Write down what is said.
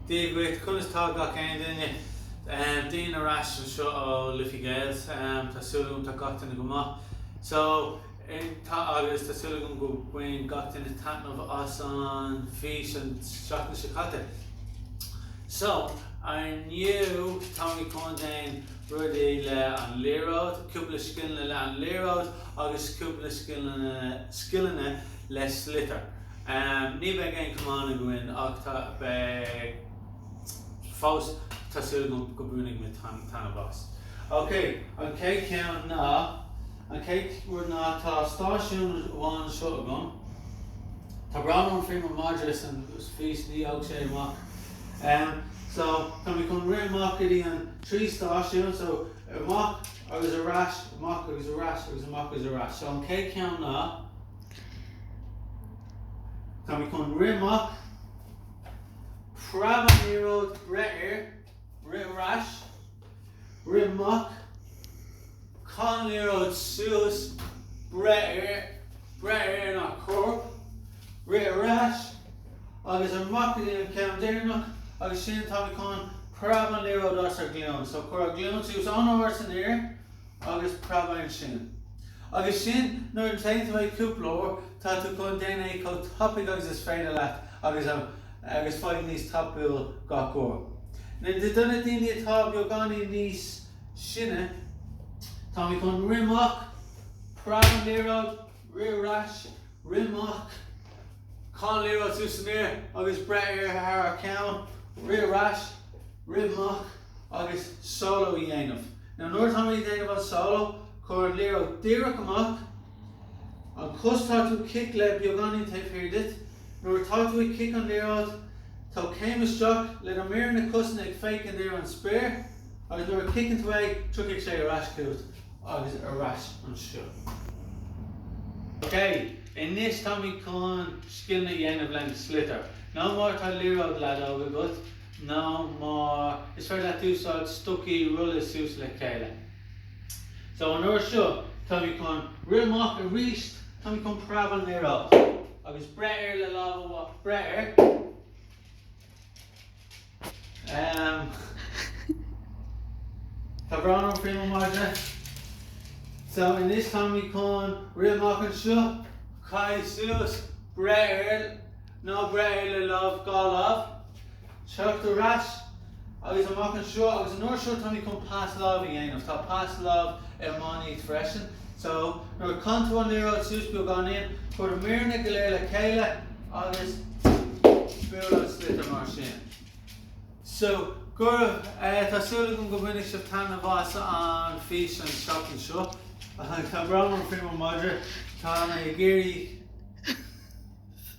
Dia dhuit, conas tá gach aon duine? Dean ar ais anseo ó Liffey Gales, tá súil agam tá gach duine go maith. So, agus tá súil agam go bhain gach duine taitneamh as an bhfís an seachtain seo caite. So, inniu táimid chun déanamh rudaí le an liathróid, cúpla scileanna le an liathróid agus cúpla scileanna le sliotar. Ní bheidh aon chamán againn ach tá, fós, tá súil agam go mbainfidh muid taitneamh as. Ok, an chéad cheann ná, an chéad rud ná tá stáisiún amháin anseo agam, tá brón orm faoi mo mhadra san fhís ní fhág sé amach. So, tá mé chun rith amach go dtí an trí stáisiún, so amach agus ar ais, amach agus ar ais agus amach agus ar ais. So an chéad cheann ná. Tá mé chun rith amach. Preab an liathróid, breith air, rith ar ais, rith amach, caith an liathróid suas, breith air, breith air sa chorp, rith ar ais agus amach go dtí an ceann deireanach agus sin tá mé chun. Preab an liathróid as ár nglúin. So cuir an ghlúin suas an-ard san aer. agus preab ansin. Agus sin, nuair a déanann tú é cúpla uair, tá tú chun déanamh é chomh tapaidh agus is féidir leat agus faigh níos tapúla gach uair. Now do na daoine atá beagáinín níos sine, táimid chun rith amach, preab an liathróid, Rith ar ais, rith amach, caith an liathróid suas san aer agus breith air thar ár gceann, rith ar ais, rith amach, agus solo a dhéanamh. Now nuair atá muid a' déanamh an solo, cuir an liathróid díreach amach, an chos tá tú chun cic le beagáinín taobh thiar duit, nuair atá tú ag cic an liathróid, tóg céim isteach le na méara na cosanna ag féachaint ar an spéir agus nuair a chiceann tú é, tiocfaidh sé ar ais chugat. agus ar ais anseo. OK, anois táimid chun scileanna a dhéanamh lena sliotar. Nó má tá liathróid leadóg agat, nó má, is féidir leat úsáid stocaí rollta suas le chéile. So, an uair seo, táimid chun rith amach arís, táimid chun preab an liathróid, agus breith air le lámh amháin, breith air, Tá brón orm faoi mo mhadra. So, anois táimid chun rith amach anseo. Caith suas breith air, nó breith air le lámh, dhá lámh. Teacht ar ais agus amach anseo agus an uair seo táimid chun pas lámh a dhéanamh. Tá pas lámh iománaí freisin. So, nuair a chaitheann tú an liathróid suas beagáinín, cuir na míreanna go léir le chéile agus buail an sliotar mar sin. So, go raibh, tá súil agam go mbainfidh sibh taitneamh as an bhfíseán an tseachtain seo. Tá brón orm faoi mo mhadra, tá mé ag iarraidh.